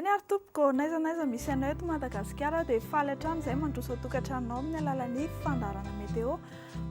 Eny ary tompoko, n'aiza n'aiza misy anao eto Madagasikara aho dia faly hatrany izay mandroso an-tokantranonao amin'ny alalan'ny fandaharana météo.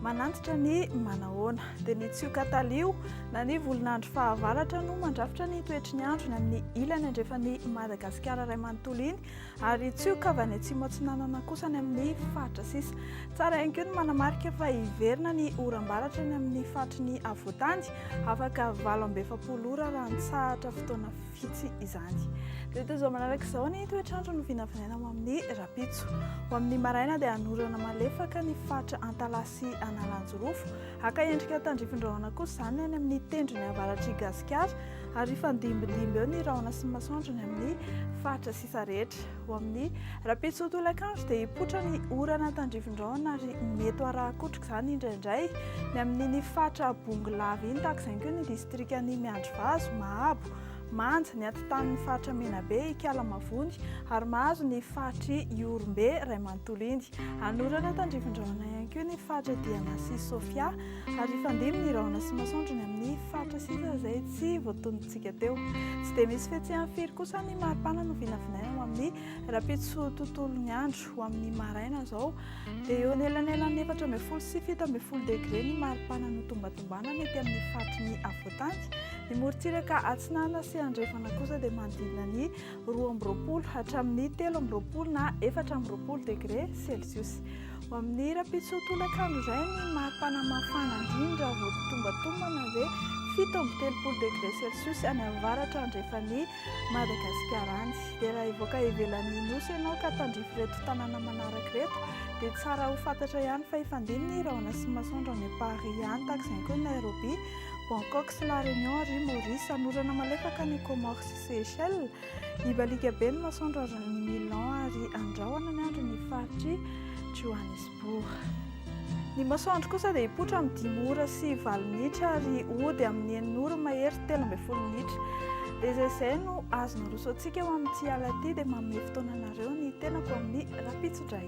Manantitra ny manahoana. Dia ny tsioka talio na ny volon'andro fahavaratra no mandrafitra ny toetry ny andro ny amin'ny ilany andrefan'i Madagasikara iray manontolo iny. Ary tsioka avy any Atsimo Atsinanana kosa any amin'ny faritra sisa. Tsara ihany koa ny manamarika fa hiverina ny oram-baratra any amin'ny faritry ny afovoantany, afaka valo amby efapolo ora raha nitsahatra fotoana vitsy izany. Dia toy izao manaraka izao ny toetr'andro no vinavinaina ho amin'ny rahampitso. Ho amin'ny maraina dia hanorana malefaka ny faritra Antalaha sy Analanjirofo. Haka endrika tandrifin-drahona kosa izany any amin'ny tendrony avaratr'i Gasikara. ary hifandimbindimby eo ny rahona sy ny masoandro ny amin'ny faritra sisa rehetra. Ho amin'ny rahampitso tolakandro dia hipoitra ny orana tandrifin-drahona ary mety ho arahan-kotroka izany indraindray ny amin'iny faritra Bongolava iny, tahaka izany koa ny distrikan'i Miandrivazo, Mahabo, Manja, ny atintanin'ny faritra Menabe, Ikala Mavony ary mahazo ny faritr'i Ihorombe iray manontolo iny. Hanorana tandrifin-drahona ihany koa ny faritra Diana sy Sofia. Ary hifandimby ny rahona sy masoandro ny amin'ny faritra sisa izay tsy voatonintsika teo. Tsy dia misy fihetsehany firy kosa ny maripana no vinavinaina ho amin'ny rahampitso tontolon'ny andro. Ho amin'ny maraina izao dia eo anelanelan'ny efatra ambin'ny folo sy fito ambin'ny folo degre ny maripana notombatombana ny ety amin'ny faritry ny afovoantany. Ny morontsiraka atsinanana sy andrefana kosa dia manodidina ny roa amby roapolo hatramin'ny telo amby roapolo na efatra amby roapolo degre selsiosy. Ho amin'ny rampitsoa-tolakandro izay ny mari-pana mafana indrindra vao totombatombana hoe fito amby telopolo degre celsius any amin'ny varatra andrefan'i Madagasikara any. Dia raha hivoaka ivelan'ny nosy ianao ka tandrify ireto tanàna manaraka ireto dia tsara ho fantatra ihany fa hifandimby ny rahona sy masoandro any Paris any tahaka izany koa i Nairobi, Bangkok sy La Réunion ary Maurice. Hanorana malefaka any Comores sy Seychelles. Hibaliaka be ny masoandro ary ny Milan ary andrahona ny andro ny faritr'i Johannesburg. Ny masoandro kosa dia hipoitra amin'ny dimy ora sy valo minitra ary hody amin'ny enina ora mahery telo ambin'ny folo minitra. Dia izay izay no azo naroso antsika ho amin'ity alina ity dia manome fotoana anareo ny tenako amin'ny rahampitso indray.